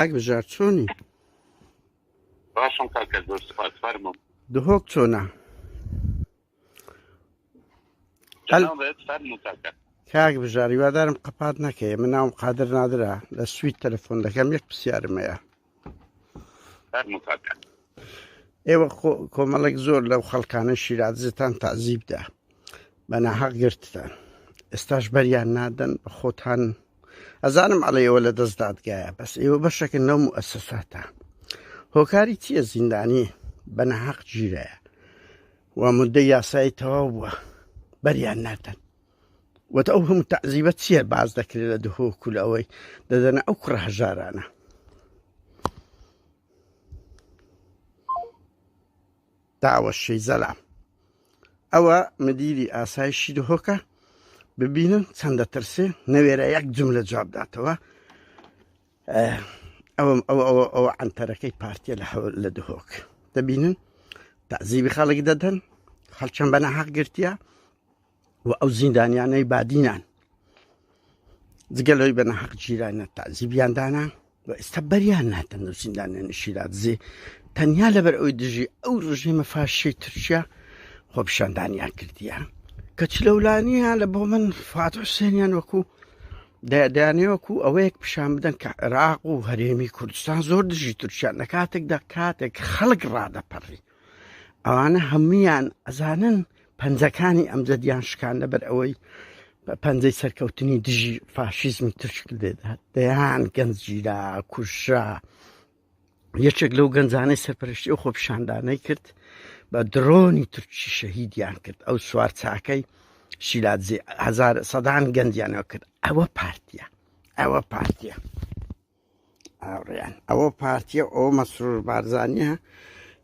کاک بژار چۆنی؟ باشم کاکە زۆر سپاس فەرموو دهۆک چۆنە؟ جەنابت فەرموو کاکە کاک بژاری وادارم قەپات نەکەی من ناوم قادر نادرا لە سوید تەلەفۆن دەکەم یەک پرسیارم هەیە فەرموو کاکە ئێوە کۆمەڵێک زۆر لەو خەڵکانە شیراتزتان تازیبدا بە ناحەق گرتتان ئێستاش بەریان نادەن بە خۆتان ئەزانم ئەڵێ ئێوە لە دەست دادگایە بەس ئێوە بەشەکە نەوم و ئەسەساتە هۆکاری چییە زیندانی بە ناحەق گیرەیە و مدە یاسایی تەواو بووە بەریان نادەن وەتە ئەو هەموو تەعزیبە چییە باز دەکرێت لە دهۆکول ئەوەی دەدەنە ئەو کوڕە هەژارانە داوە شەیزەلا ئەوە مدیری ئاسایشی دهۆکە ببینن چەندە ترسێ نەوێرە یەک جم لە جواب داتەوە ئەوم ئەوە ئەوە ئەوە ئەنتەرەکەی پارتیە لە هەول لە دهۆک دەبینن تازیبی خەڵک دەدەن خەڵچەند بەنە حەق گرتیە و ئەو زیندانیانەی بادینان جگە لەوەی بە نەحەق گیرانە تازیبیان دانا و ئێستا بەریان ناتەن و زیندانیان شیرازێ تەنیا لەبەر ئەوی دژی ئەو ڕژێمە فاشی تورکیا خۆپشاندانیان کردیە کە چ لەولانیە لە بۆ من فات حوسێنیان وەکو دەیانێ وەکو ئەوەیەک پیشان بدەن کە عێراق و هەرێمی کوردستان زۆر دژی تورکیان لە کاتێکدا کاتێک خەڵک ڕادەپەڕی ئەوانە هەمویان ئەزانن پەنجەکانی ئەمجەدیان شکان لەبەر ئەوەی پەنجەی سەرکەوتنی دژی فاشیزمی ترشک لێدات دەیان گەنج گیرا کوژرا یەکێک لەو گەنجانەی سەرپەرشتی و خۆپشاندانەی کرد بە درۆنی ترکی شەهیدیان کرد ئەو سوار چاکەی شیلادزی هزار سەدان گەنجیانەوە کرد ئەوە پارتیە ئەوە پارتیە. هاوڕێیان ئەوە پارتیە ئەو مەسرور بارزانە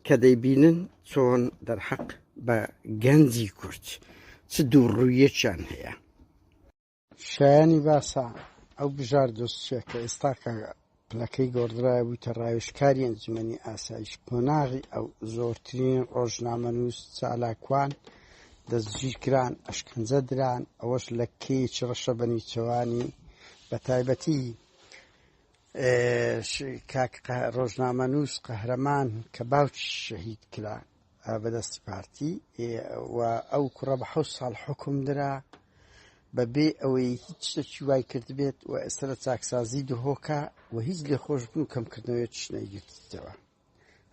کە دەیبینن چۆن دەرحەق بە گەنجی کورد چ دوو ڕوویەکیان هەیە شایانی باسە ئەو بژار دۆستە کە ئێستا کە پلەکەی گۆڕدرای بووتە ڕاوشکاری ئەنجومنی ئاسایش قۆناغی ئەو زۆرترین ڕۆژنامەنووس چالاکوان دەستگیرکران ئەشکنجە دران ئەوەش لە کێچ ڕەشە بەنیچەوانی بە تایبەتی کاک ڕۆژنامەنووس قەهرەمان کە باوکی شەهید کرا بەدەستی پارتی و ئەو کوڕە بە حە ساڵ حکم درا بە بێ ئەوەی هیچ شتێکی وای کردبێت و ئێستا لە چاکسازی دهۆکە و هیچ لێ خۆشببوو کەمکردنەوەی چنەیگرتەوە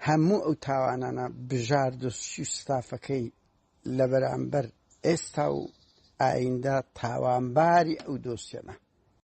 هەموو ئەو تاوانانە بژار دۆستی و ستافەکەی لە بەرامبەر ئێستا و ئایندە تاوانباری ئەو دۆسیەنە